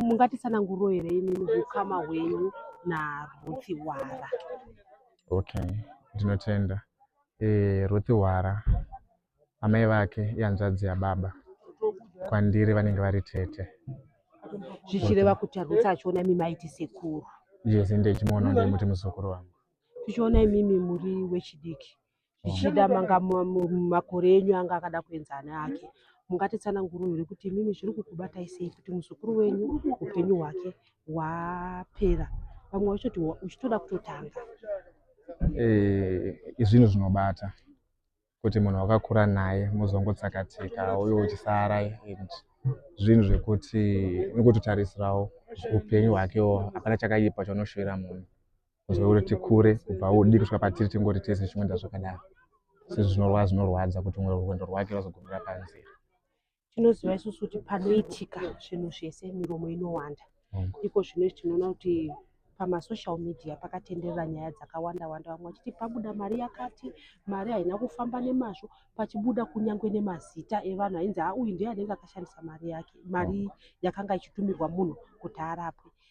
mungatitsananguriro here imimi hukama hwenyu naRuth Hwara? Okay, ndinotenda. E, eh, Ruth Hwara amai vake ihanzvadzi yababa kwandiri vanenge vari tete zvichireva kuti Ruth achiona imimi aiti sekuru yes ende ichimuona ndimuti muzukuru wangu tichiona imimi muri wechidiki zvichida manga makore enyu anga akada kuenza ana ake mungatitsanangurure kuti imimi zviri kukubatai sei kuti muzukuru wenyu upenyu hwake hwapera vamwe vachoti uchitoda kutotanga eh, izvinhu zvinobata kuti munhu wakakura naye muzongotsakatika uye uchisara and zvinhu zvekuti nikutotarisirawo upenyu hwakewo hapana chakaipa chaunoshuvira munhu uzouri tikure kubva udii kusvika patiri tingori tese chimwenda zvakadaro sezvo zvinorwa zvinorwadza kuti mwe rwendo rwake rwazogumira panzira tinoziva isusu kuti panoitika zvinhu zvese miromo inowanda mm. iko zvino izvi tinoona kuti pamasocial media pakatenderera nyaya dzakawanda wanda vamwe vachiti pabuda mari yakati mari haina kufamba nemazvo pachibuda kunyange nemazita evanhu ainzi auyu ndiye anenge akashandisa mari yake mari yakanga ichitumirwa munhu kuti arapwe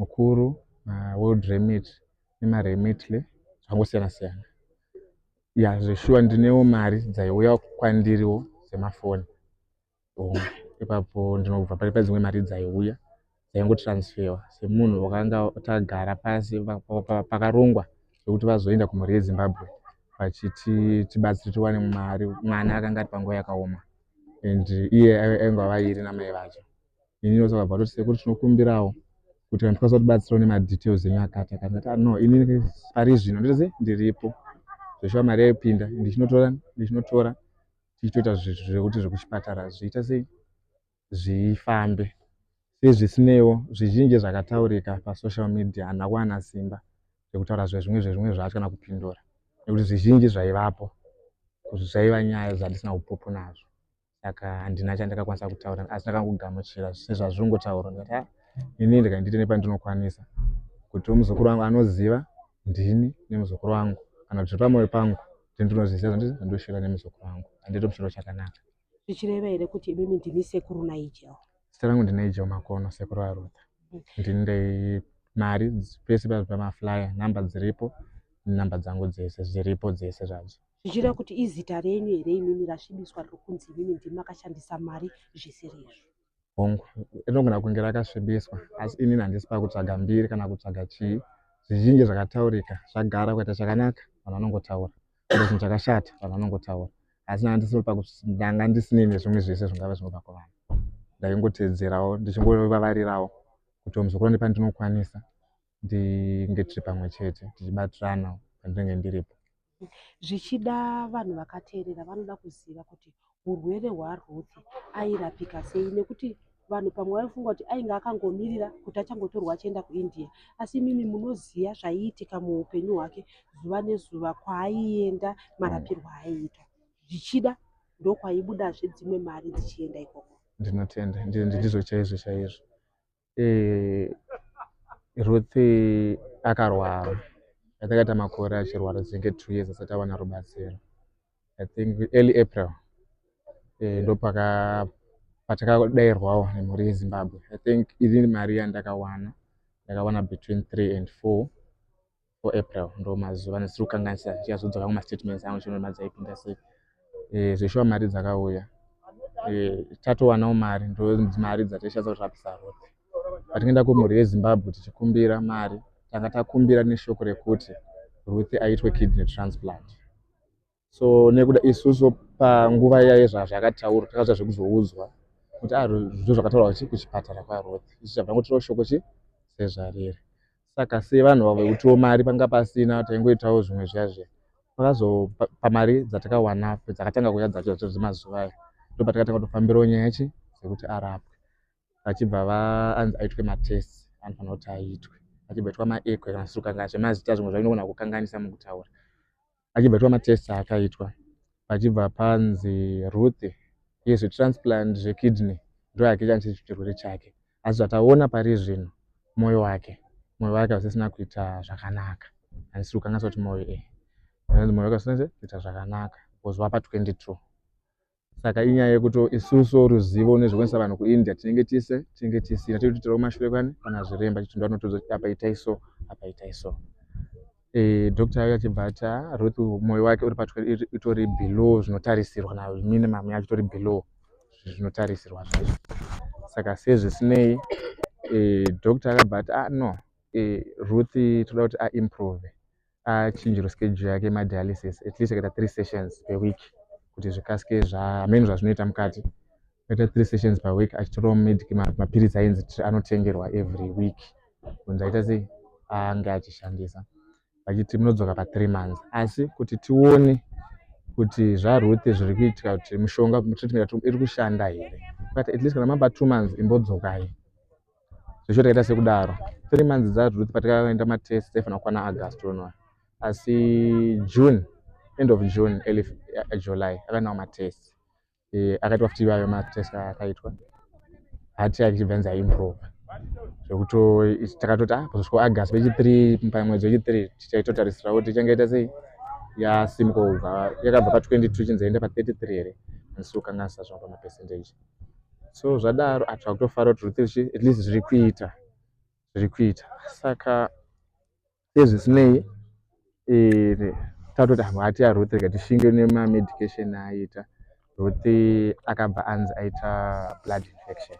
mukuru maworld remit nemaremitly zvakangosiyana siyana ya zveshuwa ndinewo mari dzaiuya kwandiriwo dzemafoni ipapo ndinobva pari padzimwe mari dzaiuya dzaingotransferwa semunhu wakanga tagara pasi pakarongwa zvekuti vazoenda kumhuri yezimbabwe vachiti tibatsire tiwane mari mwana akanga ari panguva yakaoma and iye aingava iri namai vacho ini ndosaka bva toti sekuru tinokumbirawo kuti kana tikwanisa kutibatsirawo nemadetails enyu akati akati ndati ah, no ini pari zvino nditozi ndiripo zveshuwa mari yaipinda ndichinotora ndichinotora tichitoita zvekuti zvekuchipatara zviita sei zvifambe sezvisineiwo zvizhinji zvakataurika pasocial media handina kuwana simba rekutaura zvezvimwe zvezvimwe zvacho kana kupindura nekuti zvizhinji zvaivapo zvaiva nyaya dzandisina upopo nazvo saka handina chandakakwanisa kutaura asi ndakangogamuchira sezvazvingotaurwa ndikati ha ini ndika ndite nepandinokwanisa kuti muzukuru wangu anoziva ndini nemuzukuru wangu kana kuti pamoyo pangu kuti ndinozviziva zvandinosvira nemuzukuru wangu handito chiro chakanaka zvichireva here kuti imimi ndini sekuru naijel zita rangu ndinaijel makono sekuru arutha mm. ndini ndei mari pese pamaflyer number dziripo number dzangu dzese zviripo dzese zvadzo zvichireva kuti izita renyu here imimi rasvibiswa rokunzi imimi ndimi makashandisa mari zvisiri izvo hongu rinogona kunge rakasvibiswa asi inini handisi pakutsvaga mbiri kana kutsvaga chii zvizhinji zvakataurika zvagara kuita chakanaka vanhu vanongotaura kuita chinhu chakashata vanhu vanongotaura asi nandisiri pakundanga ndisinini zvimwe zvese zvingava zvinobva kuvanhu ndaingoteedzerawo ndichingovavarirawo kuti omuzukuru ndipandinokwanisa ndinge tiri pamwe chete tichibatirana pandinenge ndiripo zvichida vanhu vakateerera vanoda kuziva kuti urwere hwaruth airapika sei nekuti vanhu pamwe vaifunga kuti ainge akangomirira kuti achangotorwa achienda kuindia asi imimi munoziva zvaiitika muupenyu hwake zuva nezuva kwaaienda marapirwo aaiita zvichida ndokwaibuda zvedzimwe mari dzichienda ikoko ndinotenda ndizvo chaizvo chaizvo eh, Ruth akarwara I think aita makore achirwara zvinge two years asati awana rubatsiro I think early April eh, ndopaka patakadairwawo nemhuri yeZimbabwe I think ini mari yandakawana ndakawana between three and four or april ndo mazuva ndisiri kukanganisa ndichazodzoka kumastatements angu chino mari dzaipinda sei eh, zveshuwa mari dzakauya eh, tatowanawo mari ndo mari dzatichasa kurapisa road patingaenda kumhuri yezimbabwe tichikumbira mari tanga takumbira neshoko rekuti ruth aitwe kidney transplant so nekuda isusu panguva yaye zvazvakataurwa takaita zvekuzoudzwa kuti ah, zvo zvakataurwa chi kuchipatara kwaroth isu chabva ngotirawo shoko chi sezvariri saka sevanhu vavo vekutiwo mari panga pasina taingoitawo zvimwe zviya zviya pakazopa pamari dzatakawana dzakatanga kuya dzacho dzacho dzemazuva ayo ndo patakatanga kutofambirawo nyaya chi dzekuti arapwe vachibva vaanzi aitwe matesi anofanira kuti aitwe achibva itwa maekwe kana sukanga zvemazita zvimwe zvainogona kukanganisa mukutaura achibva aitwa matest aakaitwa pachibva panzi ruth iye zvetransplant zvekidney ndoyake chanise chirwere chake asi zvataona pari zvino mwoyo wake mwoyo wake hausisina kuita zvakanaka handisi kukangasa kuti mwoyo e eh, mwoyo wake hausisina kuita zvakanaka because wapa 22 saka inyaya yekuti isusu ruzivo nezvekuendesa vanhu kuindia tinenge tise tinenge tisina tiri kutitirawo mashure kwani kana zviremba chitunda anotoudza kuti apa itai so apa itai so e, doctor ayo achibva ati ah, ruth mwoyo wake uri patwe itori below zvinotarisirwa na minimum yacho itori below zvinotarisirwa zvaizvo saka sezvisinei e, doctor akabva ati ah no e, ruth toda kuti aimprove achinjirwe schedule yake yemadialysis at least akaita three sessions per week kuti zvikasike zvaamene zvazvinoita mukati akaita three sessions per week achitorawo mapiritsi ainzi anotengerwa every week kunzi aita sei ange achishandisa vachiti munodzoka pathree months asi kuti tione kuti zvaruth zviri kuitika kuti mushonga iri kushanda here but at least kana mamba two months imbodzokai zvichoti kaita sekudaro three months dzacho ruth patakaenda matest taifanira kukwana august unoa asi june end of june early eh, july akaendawo matest eh, akaitwa futi ivayo matest akaitwa hati yake ichibva nzi aimprove zvekuti takatoti ah kuzosvika august vechithree pamwedzi wechithree tichaitotarisira kuti ichange ita sei yasimuka kubva yakabva pa 22 chinzi yaenda pa 33 here andisi kukanganisa zvavo pamapercentage so zvadaro ah takutofara kuti rutendo zvichi at least zviri kuita zviri kuita saka sezvisinei eh, tatoti ah, hati aruth rega tishinge nemamedication aita ruth akabva anzi aita blood infection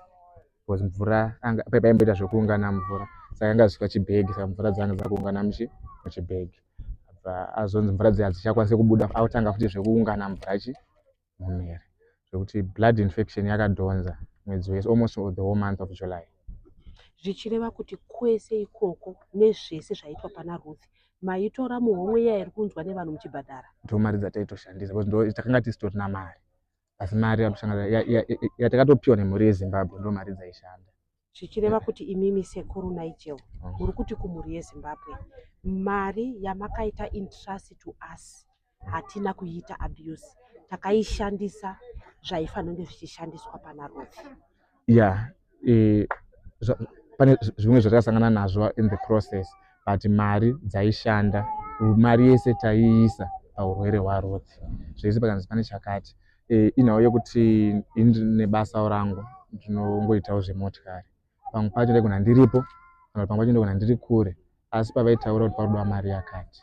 because mvura paimboita zvekuungana mvura saka anga zvisika chibhegi saka mvura dzanga dzakuungana muchi muchibhegi azonzi mvura dziya dzichakwanise kubuda autanga futi zvekuungana mvura chi mumheri zvekuti blood infection yakadhonza mwedzi wese almost the whole month of july zvichireva kuti kwese ikoko nezvese zvaitwa pana ruth maitora muhomwe iya iri kunzwa nevanhu muchibhadhara ndo mari dzataitoshandisa bcause ndo takanga tisitorina mari asi mari yatakatopiwa nemhuri yezimbabwe ndo mari dzaishanda zvichireva kuti imimi sekuru Nigel muri kuti kumhuri yeZimbabwe mari yamakaita intrust to us hatina kuiita abuse takaishandisa zvaifanonge zvichishandiswa pana Ruth yeah e, zva, pane zvimwe zvatakasangana nazvo in the process but mari dzaishanda mari yese taiisa paurwere hwaRuth zvese pakanzi pane chakati eh, inhau yekuti ini ndine basawo rangu ndinongoitawo zvemotikari pamwe pacho ndaigona ndiripo kana pamwe pacho ndaigona ndiri kure asi pavaitaura kuti parudiwa mari yakati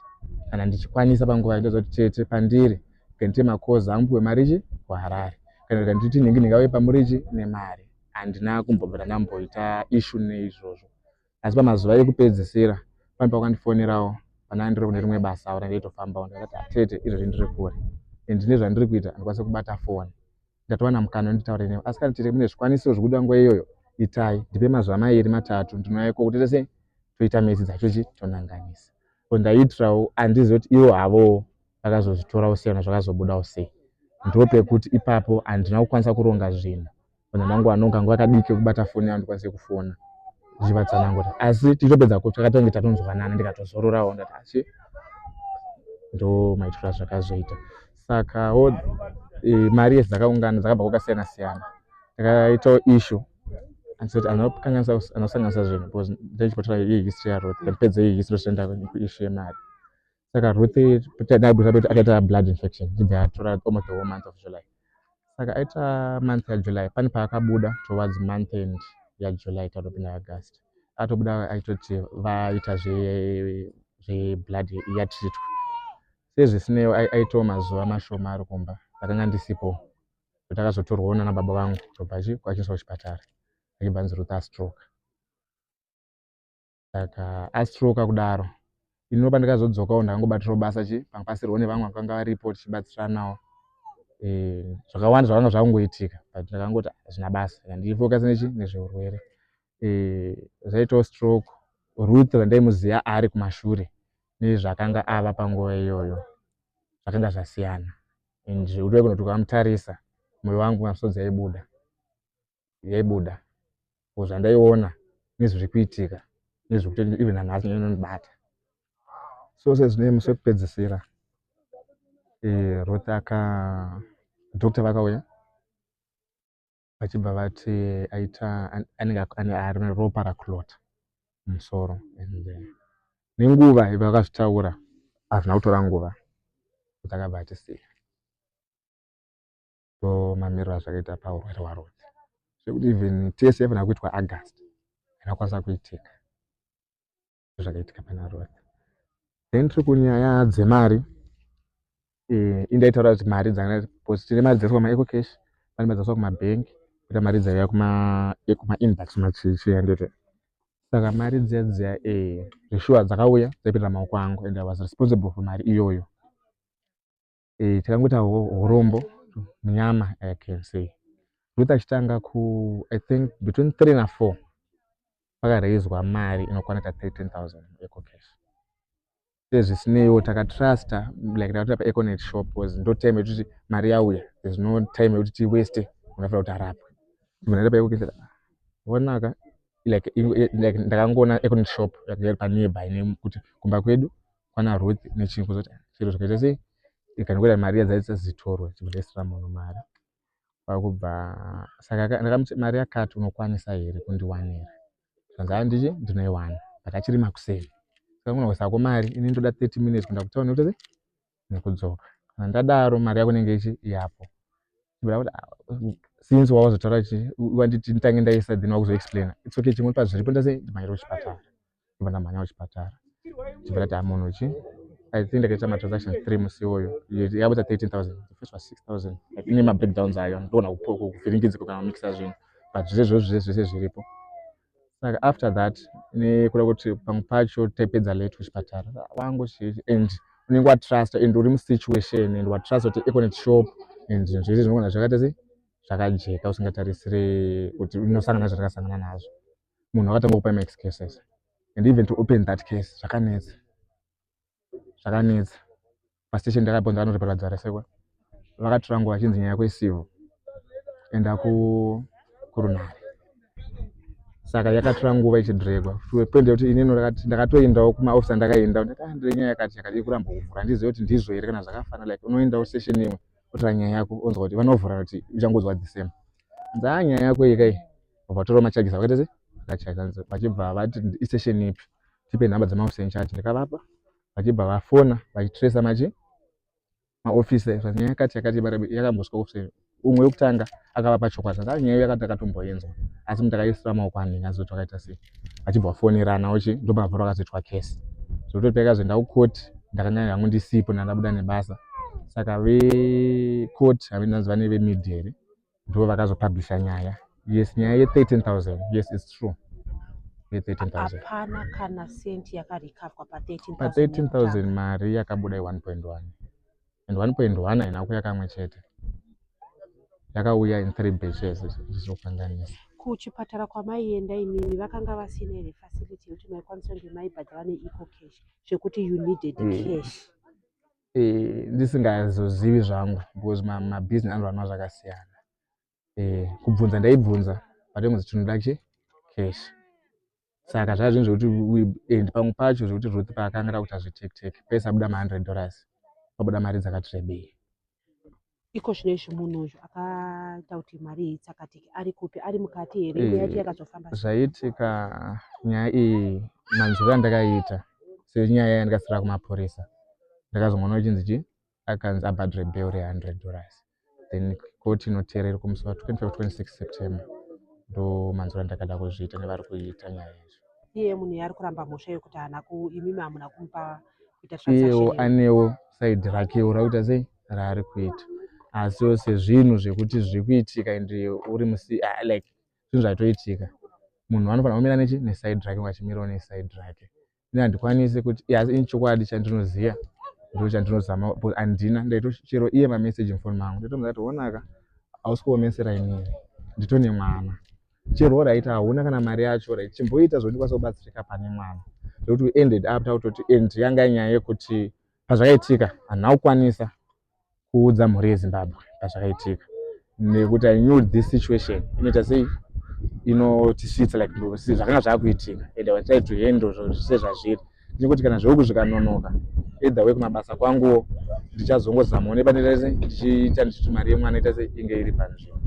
kana ndichikwanisa panguva yaitoza kuti tete pandiri kandiite makozi angu puwe mari chi kuharare kana kanditi nhingi ndingauye pamurichi nemari handina kumbobvira ndamboita ishu neizvozvo asi pamazuva ekupedzisira pane pakandifonerawo panaa ndiri kune rimwe basa aura ndeitofambawo ndakati atete ah, izvozvi ndiri kure and ndine zvandiri kuita handikwanise kubata foni ndatowana mukana wenditaure newe asi kana tete mune zvikwanisiro zvekuda nguva iyoyo itai ndipe mazuva mairi matatu ndinoyako kuti tese toita mesi dzacho chi tonanganisa ko ndaiitirawo handizive kuti ivo havowo vakazozvitorawo sei na zvakazobudawo sei ndo pekuti ipapo handina kukwanisa kuronga zvinhu kana mangwana ungange wakadii kekubata foni yangu ndikwanise kufona zvivatsanangura asi tichitopedza kutsva katonge tatonzwanana ndikatozororawo ndati asi ndo maitirwa zvakazoita sakawo e, mari yese dzakaungana dzakabva kwakasiyana siyana takaitawo ishu anosanganisa zvinhu because ndaichipotora iye history yaroth ndipedze iye history toenda kuishu yemari saka ruth naibuzabeti akaita blood infection zibva yatora almost the whole month of july saka aita month yajuly pane paakabuda towards month end yajuly tatopinda august atobuda aitoti vaita zveblood yatritwa sezvisineo aitawo mazuva mashoma ari kumba ndakanga ndisipo kuti akazotorwawo nana baba vangu tobva kwachiiswa kuchipatara achibva anzi ruth astroke Saka astroka kudaro ini ndopa ndakazodzokawo ndakangobatirawo basa chi pangabatsirwa nevamwe vakanga varipo tichibatsiranawo eh, zvakawanda zvakanga zvakungoitika but ndakangoti hazvina basa ndichifokasa nechi nezveurwere eh, zvaitawo stroke ruth vandaimuziva ari kumashure nezvakanga ava panguva iyoyo zvakanga zvasiyana and zvekuti vakunotuka vamutarisa moyo wangu masodzi aibuda yaibuda or zvandaiona nezviri kuitika nezvekuti even hanhasi inonibata so sezvine musi wekupedzisira eh, ruth aka doctor vakauya vachibva vati aita anenge ari ropa rakulota musoro and eh, nenguva vakazvitaura hazvina kutora nguva kuti akabva atisiya ndo mamiriro azvakaita paurwere hwaRodzi zvekuti even tese yaifanira kuitwa August yakakwanisa kuitika zvakaitika pana Rodzi then tiri kunyaya dzemari eh, indaitaura kuti mari dzanga because tine mari dzese kwamaeco cash pane mari dzaswa kumabhenk kuita mari dzaiya kumainbox eh, machichiendete saka mari dziya dziya eh, zveshuwa dzakauya dzaipinda maoko angu and i was responsible for mari iyoyo eh, takangoita urombo munyama i can say ruth achitanga ku i think between three na four pakaraizwa mari inokwana ka 13000 ecocash sezvisineiwo takatrusta like takatoita paeconet shop bcause ndo time yekuti mari yauya there's no time yekuti tiweste unofanira kuti arapwe munaita paecocash vonaka like ndakangoona econet shop yakairi panearby nekuti kumba kwedu kwana Ruth nechinhu kuzoti zviro zvikaita sei ikangoita mari iya dzaita zitorwe chibudisira munhu mari kwakubva saka ndakamuti mari yakati unokwanisa here kundiwanira zvanzi anditi ndinoiwana but achiri makuseni saka kuna kusako mari ini ndoda 30 minutes kuenda kutauni kuti sei nekudzoka kana ndadaro mari yako inenge ichi yapo kuda kuti ah, since wawazotaura chi wanditi nditange ndaisa then wakuzoexplaina it's okay chimwe pazviripo ndase ndimaire kuchipatara ndobva ndamhanya kuchipatara chibva ndati amunhu chi i think ndakaita matransaction three musi iwoyo yabuda 13000 first was 6000 ine mabreakdowns ayo ndoona kuvhiringidziko kana kumikisa zvinhu but zvezvo zve zvese zviripo saka after that nekuda kuti pamwe pacho taipedza late kuchipatara wangu chii and unenge watrust and uri musituation and watrust kuti econet shop and zvinhu zvese zvinogona zvakaita sei zvakajeka usingatarisire kuti unosangana zvakasangana nazvo munhu akatanga kupai ma excuses and even to open that case zvakanetsa zvakanetsa pastation ndakabvunza vanoti parwadzi varasekwa vakatora nguva vachinzi nyaya yako isivo enda kurunhare saka yakatora nguva ichidhiregwa point yekuti inini ndakatoendawo kumaofisa ndakaendawo ndakaendire nyaya yakati yakati ikuramba kuvhura handizive kuti ndizvo here kana zvakafana like unoendawo station imwe otora nyaya yako onzwa kuti vanovhura kuti uchangonzwa the same nzaa nyaya yako ikai vakatora macharges vakaita se vakacharge vachibva vati isession ipi tipe nhamba dzemaoffice in charge ndikavapa vachibva vafona vachitracer machi maoffice ezva nyaya yakati yakati yakambosvika office umwe wekutanga akavapa chokwadi saka nyaya yakati akatomboyenzwa asi munhu takaisira maoko anhinga zoti vakaita sei vachibva vafonerana ochi ndopakabva vakazoitwa case zvokuti payakazoenda kucourt ndakanga hangu ndisipo ndandabuda nebasa saka vecot havendinanzi vane vemidhi here ndivo vakazopublisha nyaya yes nyaya ye13000 yes its true hapana kana senti yakarikavwa pa13000 mari yakabuda i1.1 and 1.1 haina kuya kamwe chete yakauya in three batches zvizokanganisa kuchipatara kwamaienda imimi vakanga vasina here facility yekuti maikwanisa kunge maibhadhara neeco cash zvekuti you needed mm. cash eh, ndisingazozivi zvangu because mabusiness ma anoranwa zvakasiyana eh, kubvunza ndaibvunza but ingozi chinoda kuchi cash saka zvaa zvinhu zvekuti and pamwe pacho zvekuti ruth paakanga takuita zvetektek pese abuda ma100 dollars pabuda mari dzakati rebei Iko zvino izvi munhu uyu akaita kuti mari iyi itsakatike ari kupi ari mukati here imwe yacho yakazofamba sei? zvaitika nyaya iyi manzwiro andakaita senyaya iya ndikasara kumapurisa ndakazongoona chinzi chi akanzi abhadhre bel re 100 dollars then koti inoteera iri kumusi wa 25 26 september ndo manzwiro andakada kuzviita nevari kuita nyaya izvi iye munhu yaari kuramba mhosva yekuti haana ku imimi hamuna kumupa kuita iyewo transaction anewo saidi rakewo rakuita sei raari kuita asi ose zvinhu zvekuti zviri kuitika and uri musi ah, like zvinhu zvatoitika munhu anofanira kumira nechi neside rake vachimirawo neside rake ini handikwanisi kuti yes ini chokwadi chandinoziva ndo chandinozama but handina ndaitochero iye mameseji mufoni mangu ndaitomuza kuti onaka hausi kuomesera iniri ndito nemwana chero oraita hauna kana mari yacho rit chimboita zvondikwanisa kubatsirika pane mwana zvekuti uended up takutoti end yanga nyaya yekuti pazvakaitika hanhu akukwanisa kuudza mhuri yezimbabwe pazvakaitika nekuti i knew this situation inoita sei inotisvitsa like si zvakanga zvakuitika ende wachai to handle zvose zvazviri nekuti kana zveuku zvikanonoka either way kumabasa kwanguwo ndichazongozamawo nepandaita se ndichiita ndichiti mari yemwana ita se inge iri panzvimbo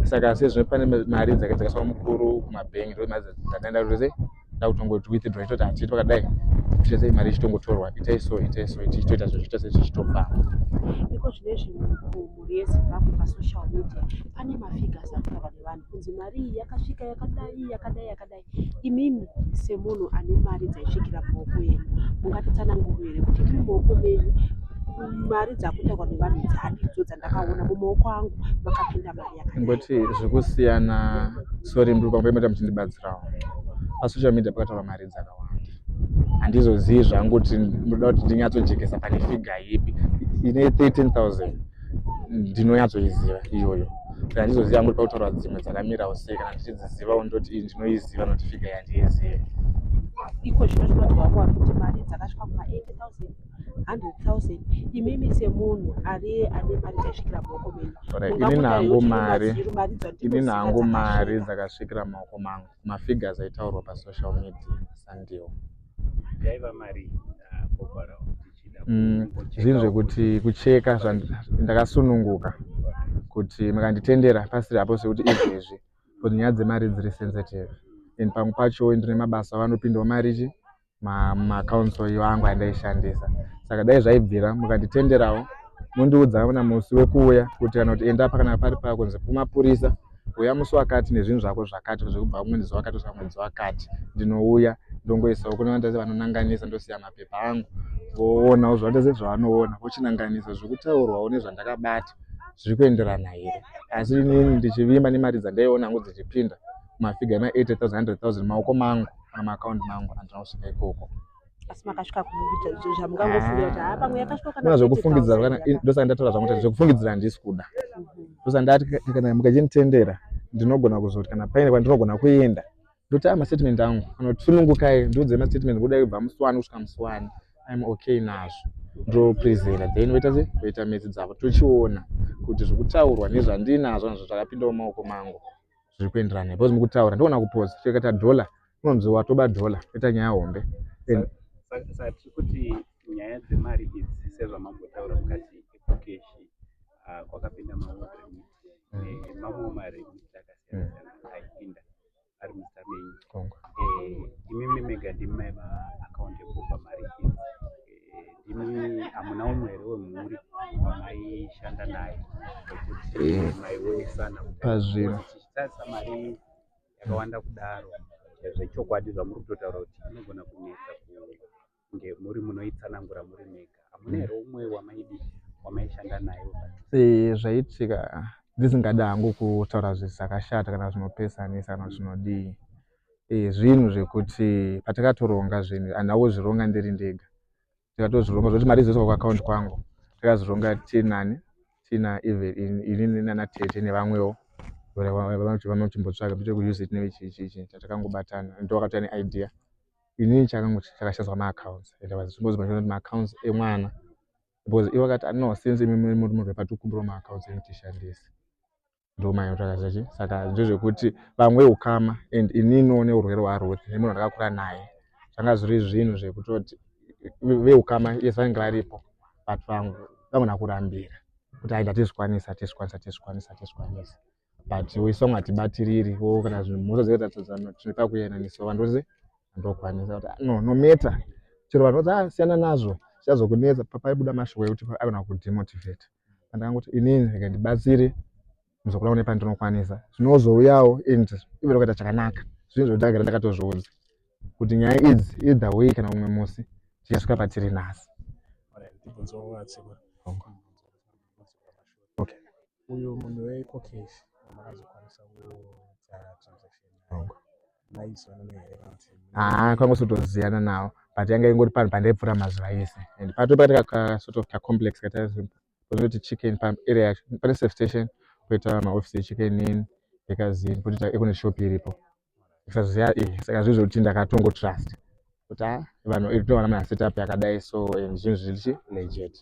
saka sezvino pane mari dzakaitikaiswa mukuru kumabhengi ndomari dzandaenda kuti sei ndakutongot withdraw itoti hatiiti pakadai kuita sei mari ichitongotorwa itai so itai so ichitoita zvichiita sei zvichitofamba iko zvine zvimwe mhuri yezimbabwe pasocial media pane mafigures akutaura nevanhu kunzi mari iyi yakasvika yakadai yakadai yakadai imimi semunhu ane mari dzaisvikira muoko yenyu mungatitsananguru here kuti imi muoko menyu mari dzakutaurwa nevanhu dzadidzo dzandakaona mumaoko angu makapinda ngoti zvekusiyana sorry mndu pamboemeta muchindibatsirawo pasocial media pakataura mari dzakawanda handizozivi zvangu kuti ndoda kuti ndinyatsojekesa pane figa ipi ine 13000 ndinonyatsoiziva iyoyo saka handizoziva kuti pakutaura dzimwe dzakamirawo sei kana ndichidzizivawo ndoti iyi ndinoiziva noti figa yandiizivi iko zvino zvinoziva kuva kuti mari dzakasvika kuma 80000 100,000 imimi semunhu ariye ane mari dzasvikira maoko menyu ini nangu mari ini nangu mari dzakasvikira maoko mangu mafigures aitaurwa pasocial media sandiwo yaiva mari Mm, zvinhu zvekuti kucheka ndakasununguka kuti makanditendera pasiri apo sekuti izvezvi kuti nyaya dzemari dziri sensitive and pamwe pacho ndine mabasa vanopindawo mari chi maaccounts iwo angu andaishandisa saka dai zvaibvira mukanditenderawo mondiudza kana musi wekuuya kuti kana kuti enda apa kana pari paya kunzi kumapurisa uya musi wakati nezvinhu zvako zvakati zvekubva kumwedzi zuva wakati kusvika mwedzi wakati ndinouya ndongoisawo kune vandazi vanonanganisa ndosiya mapepa angu voonawo zvandazi zvavanoona vochinanganisa zviri kutaurwawo nezvandakabata zviri kuenderana here asi inini ndichivimba nemari dzandaiona hangu dzichipinda mafiga ema 80 000 maoko mangu kana maakaundi mangu andina kusvika ikoko asi makasvika kuita izvo zvamungangofungira kuti haa pamwe yakasvika kana ah. zvekufungidzira kana ndosaka ndataura zvangu kuti zvekufungidzira handisi kuda mhm. ndosaka ndati kana mukachinitendera ndinogona kuzoti kana paine kwandinogona kuenda ndoti a mastatement angu kana kuti sunungukai ndiudze mastatement kuda kubva musiwani kusvika musiwani im okay nazvo ndoprezera then voita se voita metsi dzavo tochiona kuti zvekutaurwa nezvandinazvo nazvo zvakapindawo maoko mangu zviri kuenderana because mukutaura ndoona kupoza chekata dollar unonzi watoba dollar ita nyaya hombe saka tiri kuti nyaya dzemari idzi sezvamambotaura mukati ekukeshi ah, kwakapinda mamwe remit eh, mamwe maremit akasiyana-siyana mm. aipinda ari muzita menyu eh, imimi mega ndimi maiva akaunti yekupa mari idzi Ndimi hamuna umwe here wemhuri wamaishanda naye wekuti eh. maionesana pazviro tichitarisa mari yakawanda kudaro zvechokwadi zvamuri kutotaura kuti inogona kunetsa kunge muri munoitsanangura muri mega hamuna here umwe wamaidi wamaishanda naye eh, zvaitika ndisingada hangu kutaura zvakashata kana zvinopesanisa kana zvinodii eh, zvinhu zvekuti patakatoronga zvinhu and auzvironga ndiri ndega takatozvironga zvekuti mari dzoiswa kuaccount kwangu takazvironga tinani tina even inini nana tete nevamwewo vanoti vanochimbotsvaga toite kuuse it nevechichichi chatakangobatana ndo wakatova neidea inini chakango chakashazwa maaccounts and was supposed to be maaccounts emwana because ivo vakati no since imimi muri munhu wepatukumbiro maaccounts ekutishandisa ndomanya kutsvaka zvachi saka ndezvekuti vamwe ukama and ininiwo neurwere hwaruth nemunhu ndakakura naye zvanga zviri zvinhu zvekutoti veukama yes vanenge varipo but vamwe vangona kurambira kuti aida tizvikwanisa tizvikwanisa tizvikwanisa tizvikwanisa but isong hatibatiriri wo kana zvinhu mhosva dzekutatodzano tine pakuyananisa vanhu vose ndokwanisa kuti no no matter chero vanhu vodzi asiyana ah, nazvo zvichazokunetsa papaibuda mashoko ekuti aigona kudemotivate andangoti inini rega ndibatsire muzukuru wangu nepandinokwanisa zvinozouyawo and ive tokaita chakanaka zvinhu zvekuti ndagara ndakatozviudza kuti nyaya idzi either way kana umwe musi tichasvika patiri nhasi uyo munhu weikokeshi makazokwanisa kuita transaction haa kwangosotoziyana nawo but yanga ingori panhu pandaipfuura mazuva ese and pato pakaita kasort of kacomplex kataizoti chicken paarea yacho pane safe station koita maoffice echicken in ekazini kotoita ekune shop iripo kusaziva iyi saka zvinhu zvekuti ndakatongo trust kuti a vanhu itowana mana setup yakadai so and zvinhu zviri chi legit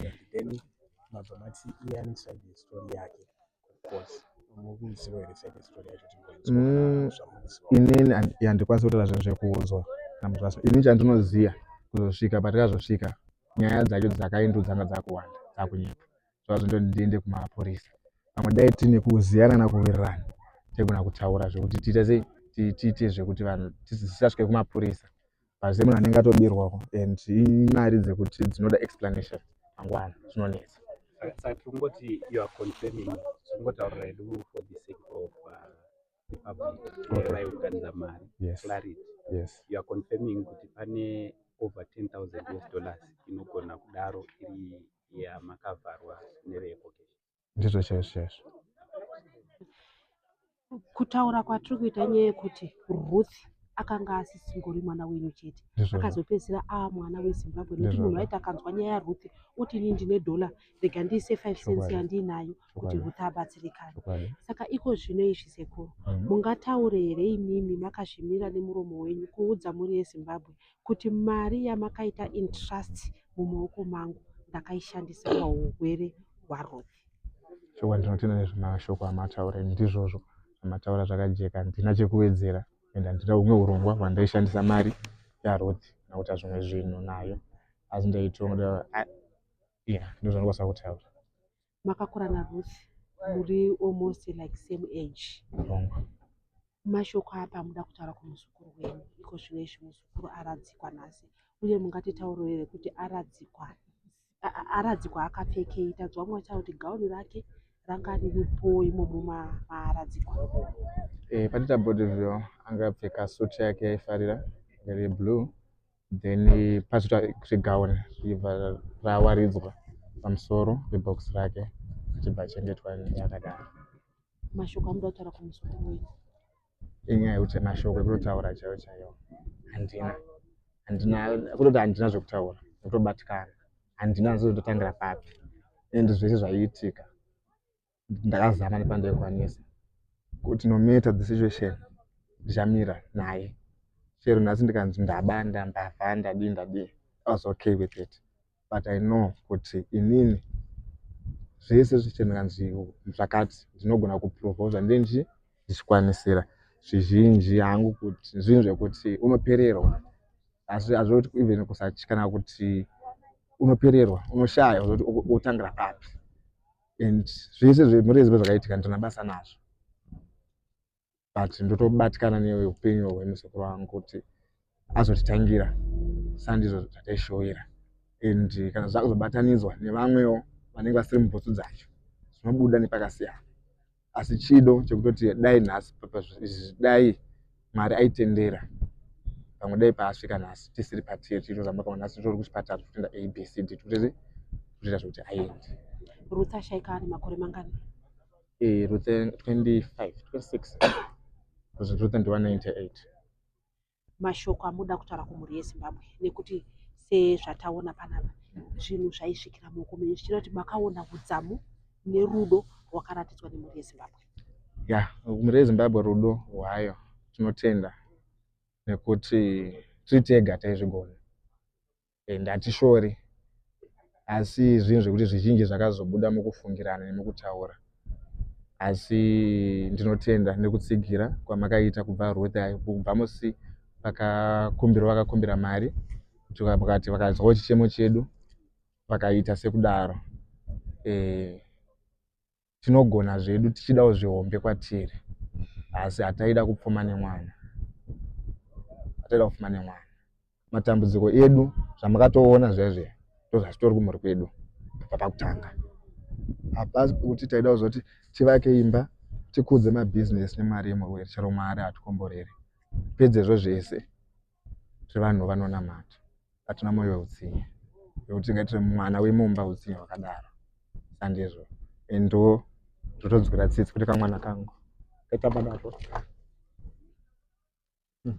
yeah. Mm, inini handi- handikwanisi kutaura zvinhu zvekuudzwa namuzvasa ini chandinoziva kuzosvika patikazosvika nyaya dzacho dzakaindu dzanga dzakuwanda dzakunyepa zvazondoti ndiende kumapurisa pamwe dai tine kuziyana nakuwirirana taigona kutaura zvekuti tiite sei Ti- tiite zvekuti vanhu tis- tisasvike kumapurisa Pazvese munhu anenge atobirwa ko and imari dzekuti dzinoda explanation mangwana zvinonetsa. Saka tirikungoti you are confirming zvikungotaurira hedu for the sake of uh, the public Okay. vaive kuganza mari Yes. clarity Yes. you are confirming kuti pane over 10000 us dollars inogona kudaro iri yamakavharwa neveecocation ndizvo chaizvo chaizvo kutaura kwatiri kuita nyaya yekuti ruth akanga asisingori mwana wenyu chete akazopedzisira aa mwana wezimbabwe nekuti munhu waiti akanzwa nyaya yaruth oti ini ndine dhola rega ndiise five cents yandiinayo kuti ruth abatsirikane saka iko zvino izvi sekuru mhm. mungataure here imimi makazvimira nemuromo wenyu kuudza mhuri yezimbabwe kuti mari yamakaita intrust mumaoko mangu ndakaishandisa pahurwere hwaRuth. Chokwadi ndinotenda nezvemashoko amataura ini ndizvozvo amataura zvakajeka ndina chekuwedzera and handina humwe urongwa hwandaishandisa mari yaRuth kana kuita zvimwe zvinhu nayo asi ndaitoda yeah ndozvandikwanisa kutaura makakura naRuth muri almost like same age mashoko apa muda kutaura kumuzukuru wenyu iko zvino izvi muzukuru aradzikwa nhasi uye mungatitauro here kuti aradzikwa aradzikwa akapfekei tadzwa mwa chavo kuti gauni rake ranga riripo imomo maaradzikwa e, eh, patita body view anga apfeka suti yake yaifarira yari yeblue then pazoita zvegaon zvichibva rawaridzwa pamusoro pebox rake achibva achengetwa yakadaro mashoko amuda kutaura kumuswa kuweni inyaya yekuti mashoko ekutotaura chaiyo chaiyo handina handina kutoti handina zvekutaura nekutobatikana handina nzizototangira papi and zvese zvaiitika ndakazama nepandaikwanisa kuti no matter the situation ndichamira naye chero nhasi ndikanzi ndabanda mbavha ndadii ndadii i was okay with it but i know kuti inini zvese zvese ndikanzi zvakati ndinogona kuprovoza ndinji ndichikwanisira zvizhinji hangu kuti zvinhu zvekuti unopererwa asi hazvoti even kusatyi kana kuti unopererwa unoshaya kuti otangira papi and zvese zvemurezi zvakaitika ndina basa nazvo but ndotobatikana neupenyu hwemusekuru wangu kuti azotitangira sandizvo zvataishoira and kana zvakuzobatanidzwa nevamwewo vanenge vasiri mubhutsu dzacho zvinobuda nepakasiyana asi chido chekutoti dai nhasi dai mwari aitendera pamwe dai paasvika nhasi tisiri patiri tichitozamba pamwe nhasi titori kuchipatara tikutoenda abcd tikutoti kutoita zvekuti aende ruth ashaika ari makore mangani ee eh, ruth 25 26 ruth ndiwa 98 mashoko amuda kutaura kumhuri yezimbabwe nekuti sezvataona panapa zvinhu zvaisvikira muoko menyu zvichira kuti makaona hudzamu nerudo rwakaratidzwa nemhuri yezimbabwe ya mhuri yezimbabwe rudo rwayo tinotenda nekuti tiri tega taizvigona and hatishori asi zvinhu zvekuti zvizhinji zvakazobuda mukufungirana nemukutaura asi ndinotenda nekutsigira kwamakaita kubva ruth ayo kubva musi vakakumbirwa vakakumbira mari kuti vakati vakazwawo chichemo chedu vakaita sekudaro eh, tinogona zvedu tichidawo zvihombe kwatiri asi hataida kupfuma nemwana hataida kupfuma nemwana matambudziko edu zvamakatoona zvezve ndozvatitori kumhuri kwedu kubva pakutanga hapasi pekuti taida kuzoti tivake imba tikudze mabhizinesi nemari yemurwere chero mari hatikomborere pedzezvo zvese zvevanhu vanonamata hatina moyo weutsinye nekuti tingaitire mwana wemumba utsinye hwakadaro sandizvo and ndo zvotonzwira tsitsi kuti kamwana kangu kaitamba nazvo hmm,